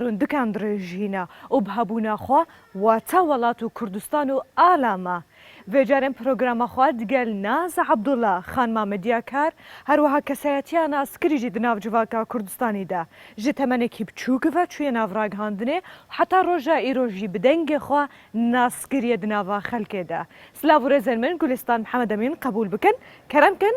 رندکان دڕێژهینا ئوب هەبوونا خوا واتە وەلات و کوردستان و ئالا ما ڤێجارێن پرۆگراما خوا دگەل ناز عەبدوڵا، خان مامەدیا کار، هەروەها کەسایەتیا ناسکری ژی دناو جڤاکا کوردستانی دا ژ تەمەنێکی بچووک ڤە چویە ناڤ راگهاندنێ و حەتا رۆژا ئیرۆ ژی بدەنگێ خوا ناسکریە دناڤا خەلکێ دا. سلاڤ و رێزێن من گولستان محمد امین قەبوول بکن کەرەم کن.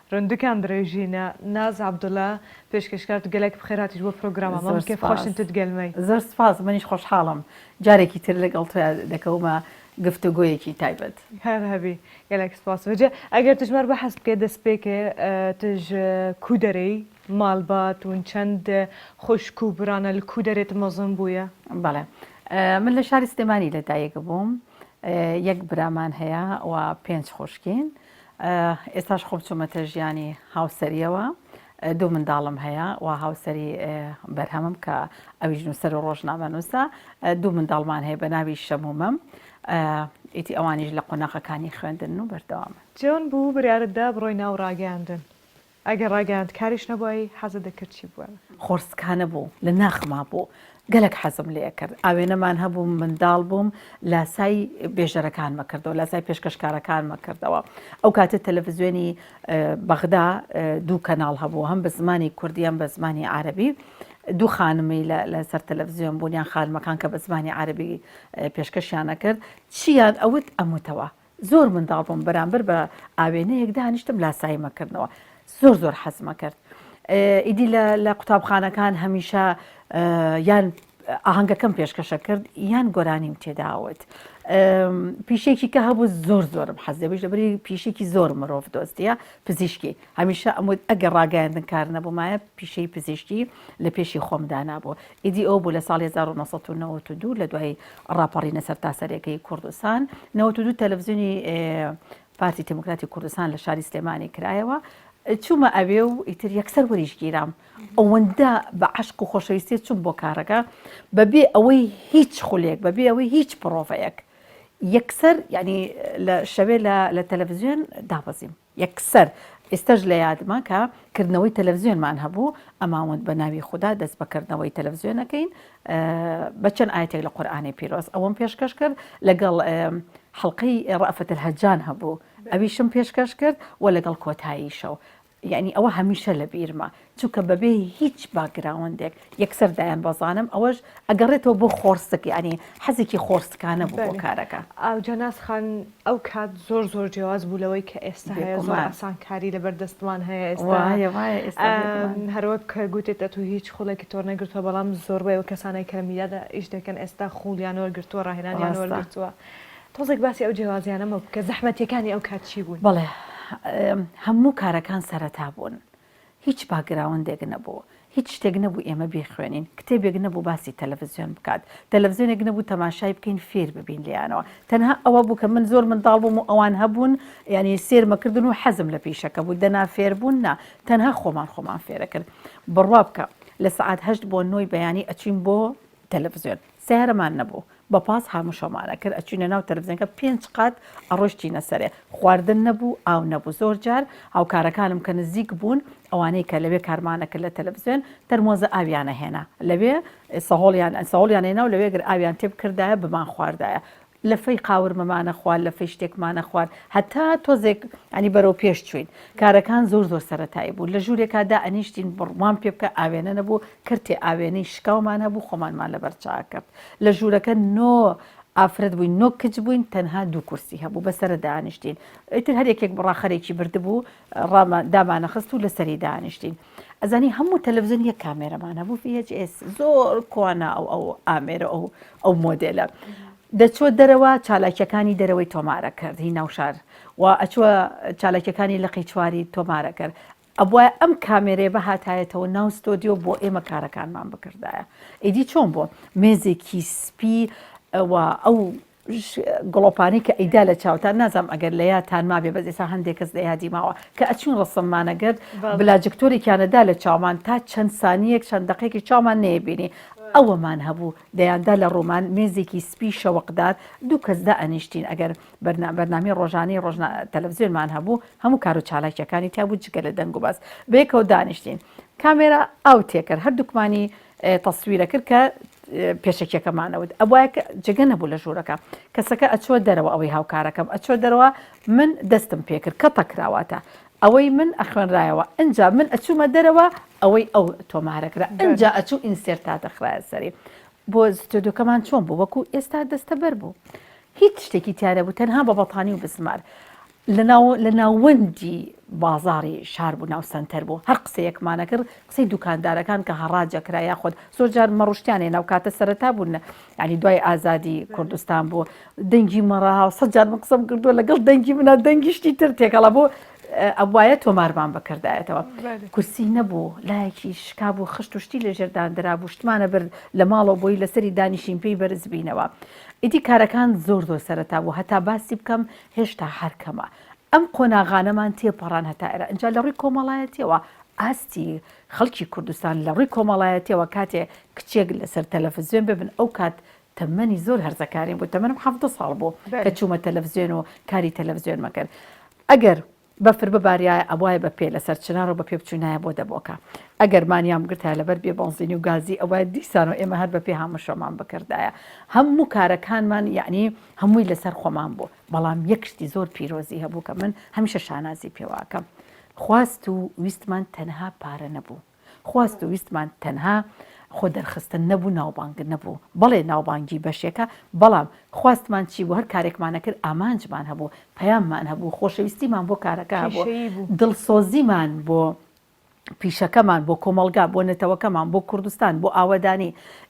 رندکان درێژینە. ناز عبداللە پێشکەشکار گەلەک بخێر هاتیت بۆ پرۆگرامە مەم کێف خۆشن تت گەلمەی. زۆر سپاس منیش خۆشحاڵم جارێکی تر لەگەڵ تۆیا دەکەومە گفتوگۆیەکی تایبەت. هەر هەبی گەلەک سپاس بەجێ ئەگەر تژمار بەحەس بکەێ دەس پێکێ تژ کو دەرێی مال بات ون چەند خوشک و برانە لە کو دەرێ تت مەزن بویە؟ بەڵێ من لە شاری سلێمانی لە دایک بووم یەک برامان هەیە و پێنج خوشکین ئێستاش خۆم چوومەتە ژیانی هاوسەرییەوە، دوو منداڵم هەیە و هاوسەری بەرهەمم کە ئەویش نووسەر و ڕۆژنامەنووسە، دوو منداڵمان هەیە بە ناوی شەم و مەم، ئیدی ئەوانیش لە قۆناغەکانی خوێندنن و بەردەوامن. چۆن بوو بڕیارت دا بڕۆی ناو ڕاگەیاندن؟ ئەگەر ڕاگەیاندکاریش نەبووایی حەزت دەکرد چی بووێم؟ خۆڕسکانە بوو لە ناخما بوو گەلەک حەزم لێکرد ئاوێنەمان هەبوو منداڵ بووم لاسای بێژەرەکانمە کردەوە لاسای پێشکەشکارەکانمە کردەوە ئەو کاتە تەلەفزیۆنی بەغدا دوو کەناڵ هەبوو هەم بە زمانی کوردیان بە زمانی عربی دوو خانمی لەسەر تەلەڤزیۆن بوونیان خانمەکان کە بە زمانی عربی پێشکەشیانە کرد چیان ئەوت ئەموتەوە زۆر منداڵ بووم بەرامبەر بە ئاوێنەیەک دانیشتم لاساییمە کردنەوە زۆر زۆر حەزمە کرد ئیدی لە قوتابخانەکان هەمیشە یان ئاهنگەکەم پێشکەشە کرد یان گۆرانیم تێداوت پیشێکی کە هەبوو زۆر زۆرم حەز دەبیش لەبری پیشێکی زۆر مرۆڤ دۆستە پزیشکی هەمیشە ئەمود ئەگەر ڕاگەیاندن کار نەبوومایە پیشەی پزیشکی لە پێشی خۆمدا نبوو ئیدی ئەوە بوو لە ساڵی هەزار و نۆ سەد و نەوەد و دوو لە دوای ڕاپەڕینە سەرتاسەریەکەی کوردستان، نەوەد و دوو تەلەفزیۆنی پارتی تێمۆکراتی کوردستان لە شاری سلێمانی کرایەوە، چوومە ئەوێ و ئیتر یەکسەر وەریش گیرام، ئەوەندە بە عەشق و خۆشەویستیە چووم بۆ کارەکە بەبێ ئەوەی هیچ خولێک بەبێ ئەوەی هیچ پڕۆڤەیەک یەکسەر یعنی لە شەوێ لە تەلەفزیۆن دابەزیم. یەکسەر ئیستەش لە یادمە کە کردنەوەی تەلەفزیۆنمان هەبوو ئەماوند بە ناوی خودا دەست بە کردنەوەی تەلەفزیۆنەکەین بە چەند ئایەتێک لە قورئانی پیرۆز ئەوەم پێشکەش کرد لەگەڵ حەڵقەی ڕەئفەت الهەجان هەبوو ئەویشم پێشکەش کرد و لەگەڵ کۆتایی شەو یانی ئەوە هەمیشە لە بیرمە چونکە بەبێ هیچ باکگراوندێک یەکسەر دایانبەزاندم، ئەوەش ئەگەڕێتەوە بۆ خۆڕسک یانی حەزێکی خۆڕسکانە بوو بۆ کارەکە. ئاو جەناس خان ئەو کات زۆر زۆر جیاواز بوو لەوەی کە ئێستا هەیە، زۆر ئاسانکاری لەبەر دەستمان هەیە ئێستا هەروەک کە گوتت ئەتوو هیچ خوڵێکی تۆ نەگرتووە، بەڵام زۆربەی ئەو کەسانەی کە لە میدیادا ئیش دەکەن ئێستا خوڵیان وەرگرتووە، ڕاهێنانیان وەرگرتووە، تۆزێک باسی ئەو جیاوازیانەمە بکە، زەحمەتییەکانی ئەو کات چی بوون؟ بەڵێ هەموو کارەکان سەرەتا بوون، هیچ باکگراوندێک نەبوو، هیچ شتێک نەبوو ئێمە بیخوێنین، کتێبێک نەبوو باسی تەلەفزیۆن بکات، تەلەفزیۆنێک نەبوو تەماشای بکەین فێر ببین لێیانەوە، تەنها ئەوە بوو کە من زۆر منداڵ بووم و ئەوان هەبوون یانی سێرمەکردن و حەزم لە پیشەکە بوو، دەنا فێربوون نا، تەنها خۆمان خۆمان فێرەکرد. بڕوا بکە لە سەعات هەشت بۆ نۆی بەیانی ئەچووین بۆ تەلەفزیۆن. سەیارەمان نەبوو بەپاس هاموو شەومان ئەکرد ئەچوینە ناو تەلەفزیۆنەکە پێنج قات ئەڕۆشتینە سەرێ خواردن نەبوو ئاو نەبوو زۆر جار هاوکارەکانم کە نزیک بوون ئەوانەی کە لەوێ کارمان ئەکرد لە تەلەفزیۆن تەرمۆزە ئاویان ئەهێنا لەوێ سەهۆڵیان سەهۆڵیان ئەهێنا و لەوێ گەر ئاویان تێبکردایە بمانخواردایە لفی قاورمەمانە خوارد لفی شتێکمانە خوارد هەتا تۆزێک یانی بەرەو پێش چوین کارەکان زۆر زۆر سەرەتایی بوو لە ژورێکا دا ئەنیشتین بڕوام پێ بکە ئاوێنە نەبوو کەرتێ ئاوێنەی شکاومان هەبوو خۆمانمان لەبەر چا کەرد لە ژورەکە نۆ ئافرەت بووین نۆ کچ بووین تەنها دوو کورسی هەبوو بەسەرە دانیشتین ئیتر هەر یەکێک بڕاخەرێکی بردبوو ڕامان دامانە خست و لەسەری دانیشتین ئەزانی هەموو تەلەڤزیۆن یەک کامێرەمان هەبوو VHS زۆر کوانا ئەو ئەو ئامێرە ئەو ئەو مۆدێلە دەچۆ دەرەوە چالاکیەکانی دەرەوەی تۆمارە کرد هی ناوشار و ئەچوە چالاکیەکانی لەقی چواری تۆمارە کرد ئەبواە ئەم کامێرێ بە هاتایەتەوە ناو ستۆدیۆ بۆ ئێمە کارەکانمان بکردایە ئیدی چۆن بۆ مێزێکی سپی ئەو گڵۆپانی کە ئەیدا لە چاوتان نازانم ئەگەر لە یادتان مابێ بەس ئێستا هەندێ کەس لە یادی ماوە کە ئەچووین ڕەسەن مانەگەرد بلاجکتۆرێکیان ئەدا لە چاومان تا چەند سانیەک چەند دەقێکی چاومان نەیەبینی ئەوەمان هەبوو دەیاندا لە ڕۆمان مێزێکی سپی شەوەقدار دوو کەس دا ئەنیشتین ئەگەر بەرنا بەرنامی ڕۆژانی ڕۆژنا تەلەڤزیۆنمان هەبوو هەموو کار و چالاکیەکانی تیا بوو جگە لە دەنگ و بەس بەیەکەوە دانیشتین کامێرا ئاو تێکرد هەردووکمانی تەسویرەکرد کە پێشەکیەکەمانە وت ئەبوایە کە جگە نەبوو لە ژوورەکە کەسەکە ئەچوە دەرەوە ئەوەی هاوکارەکەم ئەچوە دەرەوە من دەستم پێکرد کە تەکراواتە ئەوەی من ئەخوێنرایەوە ئەجا من ئەچوومە دەرەوە ئەوەی ئەو تۆمارەکرا ئەجا ئەچوو ئینسێر تا دەخرایە سەری بۆ ستۆدیۆکەمان چۆن بوو وەکو ئێستا دەستەبەر بوو هیچ شتێکی تیارە بوو تەنها بە بەتانی و بزمار لەناو لە ناوەندی بازاڕی شار بوو ناو سەنتەر بوو هەر قسەیەکمانەکرد قسەی دوکاندارەکان کە هەڕاجەکرا یاخود زۆر جار مەڕشتیانێ ناو کاتە سەرەتا بوون ینی دوای ئازادی کوردستان بوو دەنگی مەڕەها سە جار من قسەم کردو لەگەڵ دەنگی منە دەنگیشتی تر تێکەڵە بۆ ئەوایە تۆمارمان بەکردایەتەوە کورسی نەبوو لایەکی شکاب و خشت و شتی لەژێردان درابوو شتمانە برد لە ماڵەوە بۆی لەسەری دانیشین پێی بەرزبینەوە ئیدی کارەکان زۆر زۆر سەرتا بوو هەتا باسی بکەم هێشتا هەر کەمە ئەم قۆناغانەمان تێپەڕان هەتا ئێرە ئەجا لە ڕووی کۆمەڵایەتیەوە ئاستی خەڵکی کوردستان لە ڕووی کۆمەڵایەتیەوە کاتێ کچێک لەسەر تەلەفزیۆن ببن ئەو کات تەمەنی زۆر هەرزەکاریم بوو تەمەنم حەڤدە ساڵ بوو کە چوومە تەلەفزیۆن و کاری تەلەفزیۆن مەکرد ئەگەر بەفر بباریایە ئەبوایە بە پێ لەسەر چنار و بە پێ بچوینایە بۆ دەبۆکە ئەگەر مانیان بگرتایە لەبەر بێ بەنزینی و گازی ئەبوایە دیسان و ئێمە هەر بە پێ هامشۆمان بکردایە هەموو کارەکانمان یەعنی هەمووی لەسەر خۆمان بوو بەڵام یەک شتی زۆر پیرۆزی هەبوو کە من هەمیشە شانازی پێواکەم خواست و ویستمان تەنها پارە نەبوو خواست و ویستمان تەنها خۆدەرخستن نەبوو ناوبانگ نەبوو بەڵێ ناوبانگی بەشێکە بەڵام خواستمان چی بوو هەر کارێکمان ئەکرد ئامانجمان هەبوو پەیاممان هەبوو خۆشەویستیمان بۆ کارەکە هەبوو کێشەیی بوو دڵسۆزیمان بۆ پیشەکەمان بۆ کۆمەڵگا بۆ نەتەوەکەمان بۆ کوردستان بۆ ئاوەدانی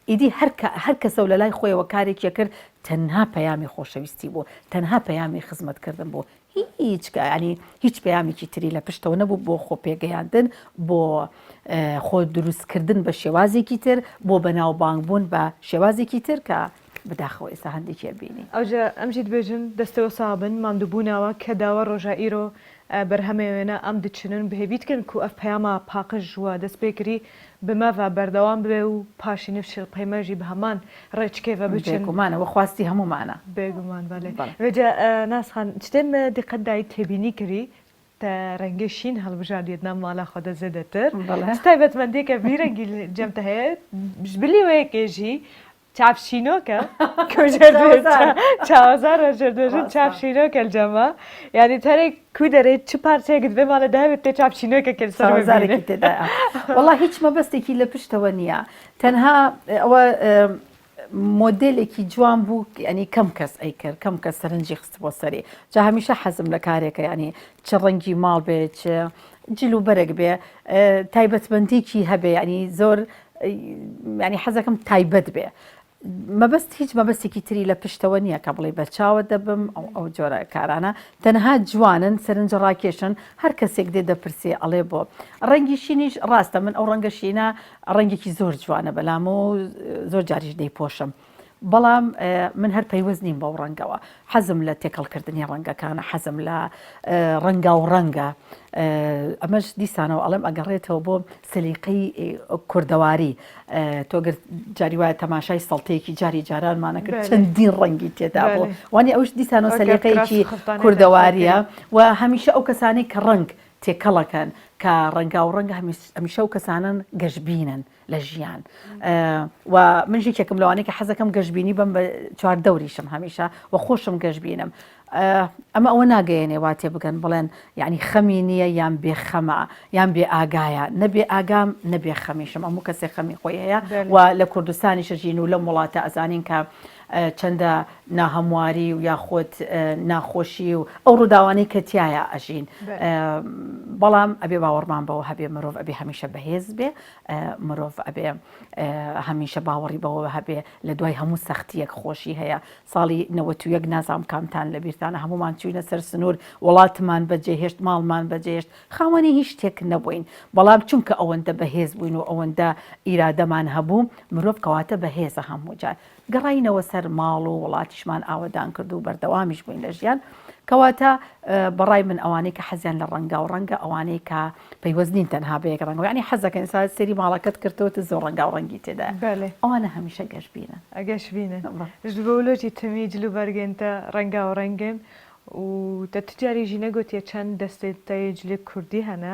ئیدی هەر کە هەر کەسە و لەلای خۆیەوە کارێکی ئەکرد تەنها پەیامی خۆشەویستی بوو تەنها پەیامی خزمەتکردن بوو هیچ کە یانی هیچ پەیامێکی تری لە پشتەوە نەبوو بۆ خۆ پێگەیاندن بۆ خۆ دروست کردن بە شێوازێکی تر بۆ بەناو بانگ بوون بە شێوازێکی تر کە بداخەوە ئێستا هەندێکی ئەبینی. ئەوجە ئەم جیت بێژن دەستەوە ساغ بن ماندو بوناوە کە داوە ڕۆژا ئیرۆ بەرهەمێ وێنە ئەم دچنن بهێ بیت کەن کو ئەف پەیاما پاقژ وە دەست پێ کری بمەڤە بەردەوام بێ و پاشی نڤچل قەیمەژی بە هەمان ڕێچکەێڤە بچن. بێگومان ئەوە خواستی هەموومانە. بێگومان بەلێ. بەڵێ. ئێجا ناز خان چ دێم دیقەت دای تێبینی کری تە رەنگێ شین هەڵبژاردیێت نام مالا خوە دە زێدەتر؟ بەڵێ. چ تایبەتمەندیێکە ڤی رەنگی جەم تە هەێت؟ ژ بلیوەێکێ ژی چاپشینۆکە چاوەزار ڕژردژن چاپشینۆکە جەمە یعنی تەرێک کو دەرێت چ پارچێکت بێ ماڵە داوێت تێ چاپشینۆکە کرد سەرزارێکی تێدا وڵا هیچ مەبەستێکی لە پشتەوە نییە تەنها ئەوە مۆدلێکی جوان بوو ئەنی کەم کەس ئەی کرد کەم کە سەرنجی خست بۆ سەری جا هەمیشە حەزم لە کارێکە ینی چ ڕەنگی ماڵ بێت جلوبەرێک بێ تایبەتمەندێکی هەبێ ینی زۆر یانی حەزەکەم تایبەت بێ مەبەست هیچ مەبەستێکی تری لە پشتەوە نییە کە بڵێ بەرچاوە دەبم ئەو ئەو جۆرە کارانە تەنها جوانن سەرنج ڕاکێشن هەر کەسێک دێ دەپرسێ ئەڵێ بۆ ڕەنگی شینیش ڕاستە من ئەو ڕەنگە شینە ڕەنگێکی زۆر جوانە بەلام و زۆر جاریش دەیپۆشم بەڵام من هەر پەیوەست نیم بەو ڕەنگەوە حەزم لە تێکەڵکردنی ڕەنگەکانە حەزم لە ڕەنگا و ڕەنگە ئەمەش دیسانەوە ئەڵێم ئەگەڕێتەوە بۆ سلیقی کوردەواری تۆگر جاری وایە تەماشای سەڵتەیەکی جاری جارانمانەکرد چەندین ڕەنگی تێدا بۆ وانی ئەوش دیسانەوە سلیقەیەکی کوردەواریە و هەمیشە ئەو کەسانی کە ڕنگ تێکەڵەکەن کە ڕەنگا و ڕەنگ هەمیشە و کەسانن گەشببینن لە ژیان و من یەکێکم لەوانەیە کە حەزەکەم گەشبینی بم بە چوار دەوریشم هەمیشە و خۆشم گەشبینم ئەمە ئەوە ناگەیەنێ وا تێ بگەن بڵێن یعنی خەمی نییە یان بێ خەمە یان بێ ئاگایە نەبێ ئاگام نەبێ خەمیشم ئەموو کەسێک خەمی خۆی هەیە و لە کوردستانی شەژین و لەم وڵاتە ئەزانین کە چەندە ناهەمواری و یاخۆت ناخۆشی و ئەو ڕووداوانەی کە تایە ئەژین بەڵام ئەبێ باوەڕمان بەوە هەبێ مرۆڤ ئەبێ هەمیشە بەهێز بێ مرۆڤ ئەبێ هەمیشە باوەڕی بەوە هەبێ لە دوای هەموو سەختیەک خۆشی هەیە ساڵی نەوەت و یەک نازانم کامتان لە بیرتانە هەموومان چووینە سەر سنوور وڵاتمان بەجێهێشت ماڵمان بەجێهێشت خاوەنی هیچ شتێک نەبووین بەڵام چونکە ئەوەندە بەهێز بووین و ئەوەندە ئیرادەمان هەبوو مرۆڤ کەواتە بەهێزە هەموو جار گەڕاینەوە سەر ماڵ و وڵاتیشمان ئاوەدان کرد و بەردەوامیش بووین لە ژیان، کەواتە بەڕای من ئەوانەی کە حەزیان لە ڕەنگە و ڕەنگە ئەوانەی کە پەیوەست نین تەنها بە یەک ڕەنگ یانی حەز دەکەن ئێستا سەیری ماڵەکەت کردەوە تە زۆر ڕەنگاو ڕەنگی تێدایە ئەوانە هەمیشە گەشبینن گەشبینن ژ بەولۆجی تەمی جل و بەرگێن تە ڕەنگاو ڕەنگێن و تە تجاری ژینە گۆتیە چەند دەستێ تە یێ جلێ کوردی هەنە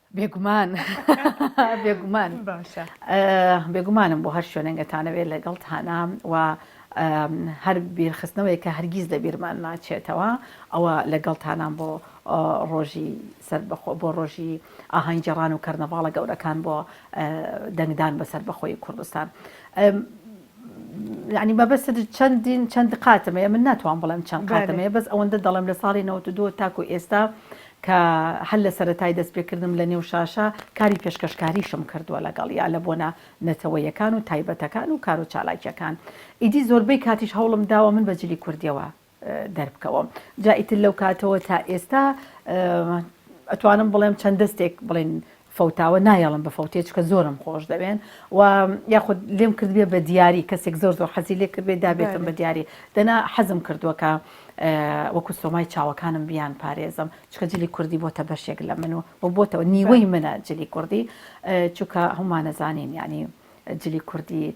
بێگومان بێگومان باشە بێگومانم بۆ هەر شوێنەنگەتانەوێت لەگەڵ تانام و هەر بیرخستنەوەی کە هەرگیز لە بیرمان ناچێتەوە ئەوە لەگەڵ تانام بۆ ڕۆژی سەر بەخۆ بۆ ڕۆژی ئاهنگ جێڕان و کەرنەڤاڵە گەورەکان بۆ دەنگدان بەسەر بەخۆی کوردستان. ینی مەبەست چەندین چەند قاتمەیە من ناتوان بڵێم چەند قاتمەیە بەس ئەوەندە دەڵێم لە ساڵی 92 تاکو ئێستا کە هەر لە سەرەتای دەستپێکردنم لە نێو شاشە کاری پێشکەشکاریشم کردووە لەگەڵیا لە بۆنە نەتەوەیەکان و تایبەتەکان و کارو چالاکیەکان ئیدی زۆربەی کاتیش هەوڵم داوە من بە جلی کوردیەوە دەربکەوەم جا ئیتر لەو کاتەوە تا ئێستا ئەتوانم بڵێم چەند دەستێک بڵێن فەوتاوە نایەڵم بە فەوتێ چکە زۆرم خۆش دەوێن و یاخود لێم کردبێ بە دیاری کەسێک زۆر زۆر حەزی لێ کردێ دابێتم بە دیاری دەنا حەزم کردووەکە وەکو سۆمای چاوەکانم بیان پارێزم چکە جلی کوردی بۆتە بەشێک لە من و و بۆتەوە نیوەی منە جلی کوردی چکە هەمانەزانین ینی جلی کوردی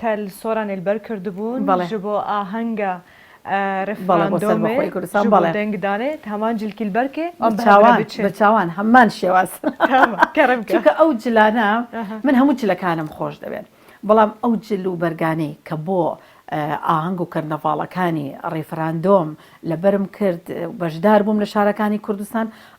تەل سۆرانێل بەر کردبوون بەڵێ. ژبۆ ئاهەنگە بەڵێ بۆ سەر ڕێفراندۆمێ بەخۆی کوردستان ژبۆ بەڵێ. دەنگ دانێ تامان جلکیل بەر کێ ئەم بە هەبرە بچاوان بچێ. بەچاوان هەمان شێواز تامە کەرم کە. چونکە ئەو جلانە ئەها. من هەموو جلەکانم خۆش دەوێن بەڵام ئەو جل و بەرگانەی کە بۆ ئاهەنگ و کەرنەڤاڵەکانی ڕێفراندۆم لەبەرم کرد و بەشدار بووم لە شارەکانی کوردستان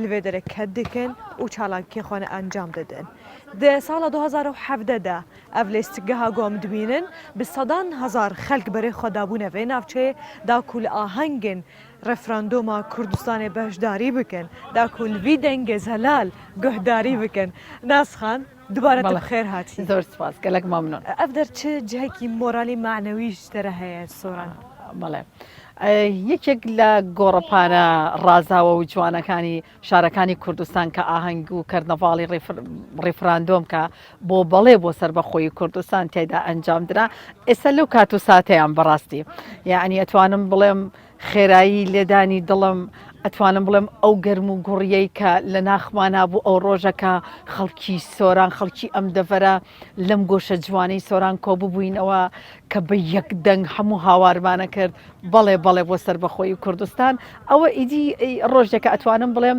لەوێ دەرەکەت دەکەن و چالاکییە خوانە ئەنجام دەدەن. دە ساڵە دۊ هەزار و حەڤدە دا ئەڤ لێستگەها گۆم دبینن بە سەدان هەزار خەلک بەرێ خوە دابۊنە ڤێ ناڤچەێ دا کوو لە ئاهەنگێن رێفراندۆما کوردستانێ بەشداری بکەن، دا کوو لەڤی دەنگێ زەلال گۆهداری بکەن. ناسخان. دوبارە بەڵێ بەخێر هاتی زۆر سوپاس گەلەک مەمنون. ئەڤدەر چ جهکی مۆرالی مەعنەویش دەرە هەیە سۆران. بەڵێ یەکێک لە گۆڕەپانە ڕازاوە و جوانەکانی شارەکانی کوردستان کە ئاهەنگ و کەرنەڤاڵی ڕیفراندۆم کە بۆ بەڵێ بۆ سربەخۆی کوردستان تێدا ئەنجام درا ئێستا لەو کات و ساتەیان بەڕاستی یعنی ئەتوانم بڵێم خێرایی لێدانی دڵم ئەتوانم بڵێم ئەو گەرم و گوڕیەی کە لە ناخمانا بوو ئەو ڕۆژەکە خەڵکی سۆران خەڵکی ئەم دەڤەرە لەم گۆشە جوانەی سۆران کۆ ببووینەوە کە بە یەک دەنگ هەموو هاوارمانە کرد بەڵێ بەڵێ بۆ سەربەخۆی کوردستان ئەوە ئیدی ڕۆژێکە ئەتوانم بڵێم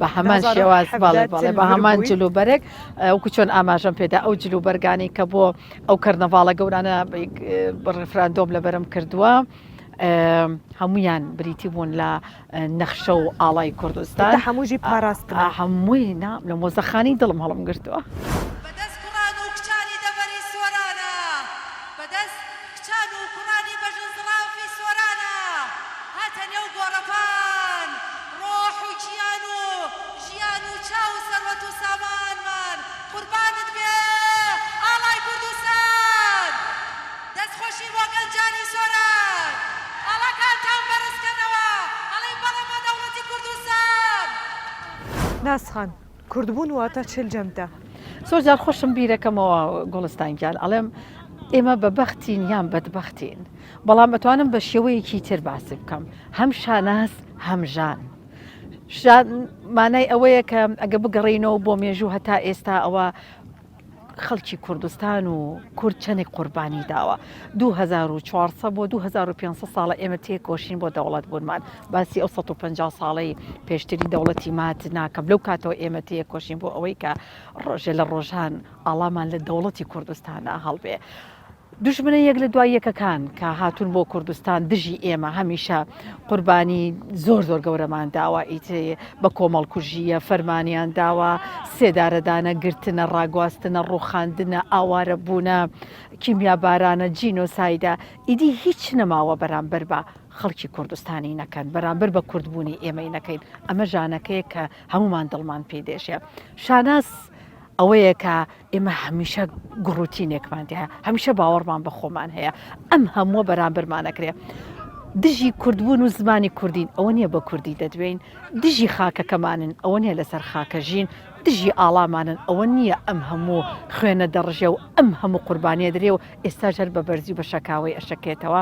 بە هەمان شێواز بەڵێ بەڵێ بە هەمان جل و بەرگ وەکو چۆن ئاماژەم پێدا ئەو جل و بەرگانی کە بۆ ئەو کەرنەڤاڵە گەورانە ڕفراندۆم لە بەرم کردووە. هەمویان بریتی بوون لە نەخشە و ئاڵای کوردستان هەمووی پاراست هەمووی نام لە مۆزەخانی دڵم هەڵم گرتووە. کچان و کوڕانی بەژن زڵافی سۆرانە هاتە نێو گۆڕەپان ڕۆح و کیان و ژیان و چاو و سەروەت و سامانمان قوربانت بێ ئاڵای کوردستان دەست خۆشی بۆ گەنجانی سۆران ئاڵاکانتان بەرز کەنەوە ئەڵێین بەڵێ بۆ دەوڵەتی کوردستان. ناسخان، کوردبوون واتە چل جەمدە. زۆر جار خۆشم بیرەکەمەوە گوڵستان گیان ئەڵێم ئێمە بە بەختین یان بەدبەختین بەڵام ئەتوانم بە شێوەیەکی تر باسی بکەم هەم شاناز هەم ژان ژان مانای ئەوەیە کە ئەگە بگەڕینەوە بۆ مێژوو هەتا ئێستا ئەوە خەڵکی کوردستان و کورد چەنێک قوربانی داوە دو هەزار و چوار سەد بۆ دو هەزار و پێنج سەد ساڵە ئێمە تێکۆشین بۆ دەوڵەت بوونمان باسی ئەو سەد و پەنجا ساڵەی پێشتری دەوڵەتی مات ناکەم لەو کاتەوە ئێمە تێکۆشین بۆ ئەوەی کە ڕۆژێ لە ڕۆژان ئاڵامان لە دەوڵەتی کوردستانا هەڵبێ دوژمنە یەک لە دوای یەکەکان کە هاتوون بۆ کوردستان دژی ئێمە هەمیشە قوربانی زۆر زۆر گەورەمان داوە ئیتێ بە کۆمەڵ کوژیە فەرمانیان داوە سێدارەدانە گرتنە ڕاگواستنە ڕوخاندنە ئاوارە بوونە کیمیا بارانە جینۆسایدە ئیدی هیچ نەماوە بەرامبەر بە خەڵکی کوردستانی نەکەن بەرامبەر بە کوردبوونی ئێمەی نەکەین ئەمە ژانەکەیە کە هەمومان دڵمان پێی دێشێ شاناز ئەوەیە کە ئێمە هەمیشە گوڕوتینێکمان تێ هەیە، هەمیشە باوەڕمان بە خۆمان هەیە، ئەم هەمووە بەرامبەرمان ئەکرێ. دژی کوردبوون و زمانی کوردین، ئەوە نییە بە کوردی دەدوێین، دژی خاکەکەمانن، ئەوە نییە لەسەر خاکە ژین، دژی ئاڵامانن، ئەوە نییە ئەم هەموو خوێنە دەڕژێ و ئەم هەموو قوربانییە درێ و ئێستاش هەر بە بەرزی و بە شەکاوەی ئەشەکێتەوە.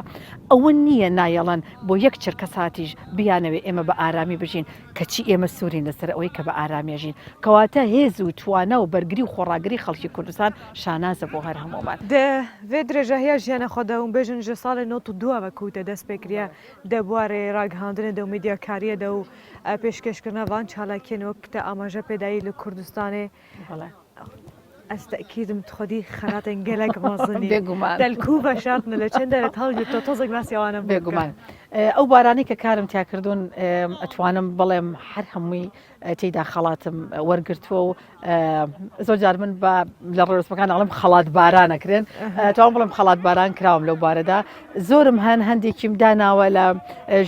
ئەوە نییە نایەڵن بۆ یەک چرکەساتیش بیانەوێ ئێمە بە ئارامی بژین، کەچی ئێمە سوورین لەسەر ئەوەی کە بە ئارامی ئەژین، کەواتە هێز و توانا و بەرگری و خۆڕاگری خەڵکی کوردستان شانازە بۆ هەر هەموومان. دە ڤێ درێژە هیا ژیانە خۆ دە وم بێژن ژە ساڵێ نۆت و دۊا وە کووتە دەس پێ کریا دە بوارێ راگهاندنێ دە و میدیاکاریێ دە و پێشکێشکردنا ڤان چالاکیێن وە ک تە ئاماژە پێ دایی لە کوردستانێ بەڵێ ئەز تەئکیدم تخۆدی خەراتێن گەلەک مەزنی بێگومان دەلکوو بەشاتنە لە چێن دەرێت هەڵگرتۆ تۆزێک باسی ئەوانم بێگومان ئەو بارانەی کە کارم تیاکردوون ئەتوانم بڵێم هەر هەمووی تێدا خەڵاتم وەرگتووە و زۆر جار من بە لە ڕێسمەکان ئەڵم خەڵات بارانەکرێن تاوان بڵم خەڵات باران کراوم لەو بارەدا زۆرم هەن هەندێکیم داناوە لە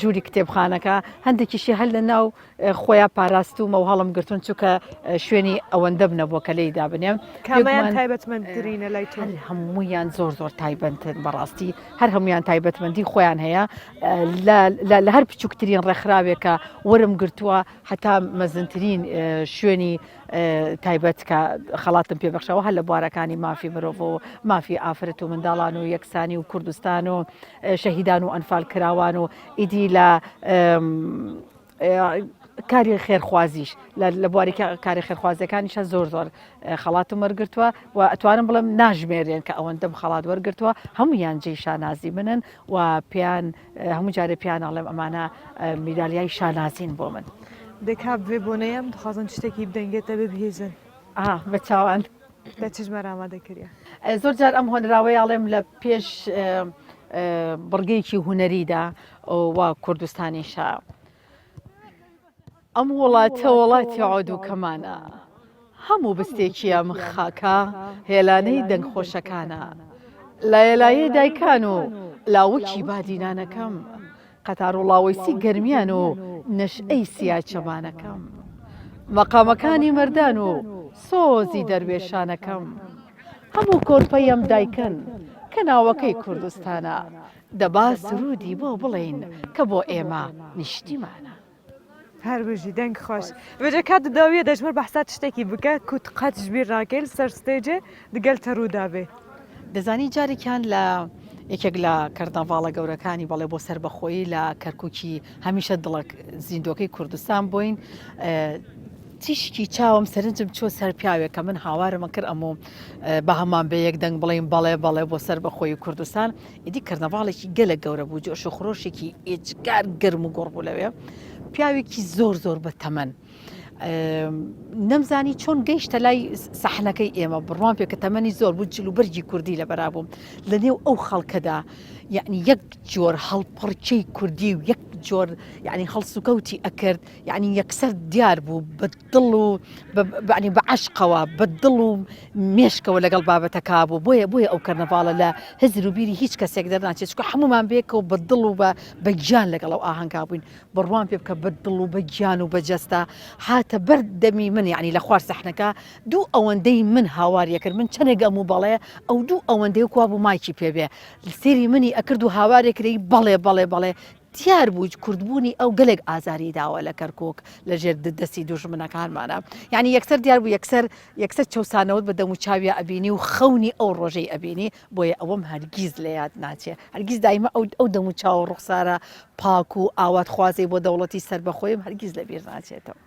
ژووری کتێبخانەکە هەندێکیشی هەل لە ناو خۆیان پاراستوومە و هەڵم گرتوون چونکە شوێنی ئەوەندەم نەبووە کە لێی دابنێم کامەیان تایبەتمەندترینە لای تۆ هەموویان زۆر زۆر تایبەتن بەڕاستی هەر هەمویان تایبەتمەندی خۆیان هەیە لە هەر بچووکترین ڕێکخراوێکە وەرم گرتووە هەتا مەزنترین شوێنی تایبەت کە خەڵاتم پێبخشەوە هەر لە بوارەکانی مافی مرۆڤ و مافی ئافرەت و منداڵان و یەکسانی و کوردستان و شەهیدان و ئەنفال کراوان و ئیدی لە کاری خێرخوازیش لە بواری کاری خێرخوازیەکانیشە زۆر زۆر خەڵات و مەرگتووە و ئەتوانم بڵم ناژمێرێن کە ئەوەندەم خەڵات وەرگتووە هەمویان جێ شانازی منن و پێیان هەموو جارێ پیانناڵێم ئەمانە میدالیای شانازین بۆ من دەکات بێ بۆنەیەم دخوازن شتێکی بدەنگێتە ببهێزن بە چاوان. لە چژمار ئامادە کریا. زۆر جار ئەم هۆنراوەی ئەڵێم لە پێش بڕگەیەکی هونەریدا وا کوردستانیشە ئەم وڵاتە وڵاتی عۆدووکەمانە هەموو بستێکی ئەم خاکە هێلانەی دەنگخۆشەکانە لایەلایەی دایکان و لاوکی بادینانەکەم قەتاروڵاوەیسی گەرمیان و نەشئەی سیای چەمانەکەم. مەقامەکانی مەردان و سۆزی دەروێشانەکەم. هەموو کۆرپەیەم دایکن کە ناوەکەی کوردستانە. دەبا سروودی بۆ بڵێین کە بۆ ئێمە نیشتیمانە. هەر بژی دەنگ خۆش بژە کات و داویە دەژمر بەحسا تشتێکی بکە کوت قەت ژبیر ڕاکەیل سەر ستەیجێ دگەل تە ڕوو دابێ. دەزانی جارێکیان لە یەکێک لە کەرنەڤاڵە گەورەکانی بەڵێ بۆ سەربەخۆیی لە کەرکوکی هەمیشە دڵە زیندوەکەی کوردستان بوین تیشکی چاوم سەرنجم چۆ سەر پیاوێک کە من هاوارمە کرد ئەمۆ بە هەمان بە یەک دەنگ بڵین بەڵێ بەڵێ بۆ سەربەخۆیی کوردستان ئیدی کەرنەڤاڵێکی گەلە گەورە بوو جۆش و خرۆشێکی ئێجگار گەرم و گۆڕ بوو لەوێ پیاوێکی زۆر زۆر بە تەمەن نەمزانی چۆن گەیشتە لای سەحنەکەی ئێمە بڕوان پێ کە تەمەنی زۆر بوو جل و بەرگی کوردی لە بەرابووم لە نێو ئەو خەڵکەدا یعنی یەک جۆر هەڵپڕچەی کوردی و یەک جۆر یعنی هەڵسوکەوتی ئەکرد یانی یەکسەر دیار بوو بە دڵ و بەعنی بە عشقەوە بە دڵ و مێشکەوە لەگەڵ بابەتەکە بوو بۆیە بۆیە ئەو کەرنەڤاڵە لە هزر و بیری هیچ کەسێک دەرناچێت چکە هەمومان بێکە و بە دڵ و بە بە گیان لەگەڵ ئەو ئاهەنگا بووین بڕوان پێ بکە بە دڵ و بە گیان و بەجەستە هاتە بەر دەمی من یعنی لە خوار سەحنەکە دوو ئەوەندەی من هاواریە کرد من چەنێک ئەم و بەڵێ ئەو دوو ئەوەندەی کوا بوو مایکی پێبێ سێری منی ئەکرد و هاوارێکرەی بەڵێ بەڵێ بەڵێ دیار بوو کوردبوونی ئەو گەلێک ئازاری داوە لە کەرکوک لە ژێر دەستی دوژمنەکانمانا یانی یەکسەر دیار بوو یەکسەر یەکسەر چەوسانەوەت بە دەموو چاویا ئەبینی و خەونی ئەو ڕۆژەی ئەبینی بۆیە ئەوەم هەرگیز لە یاد ناچێ هەرگیز دایمە ئەو ئەو دەموو چاوە ڕوخسارە پاک و ئاوات خوازەی بۆ دەوڵەتی سەربەخۆیم هەرگیز لە بیر ناچێتەوە.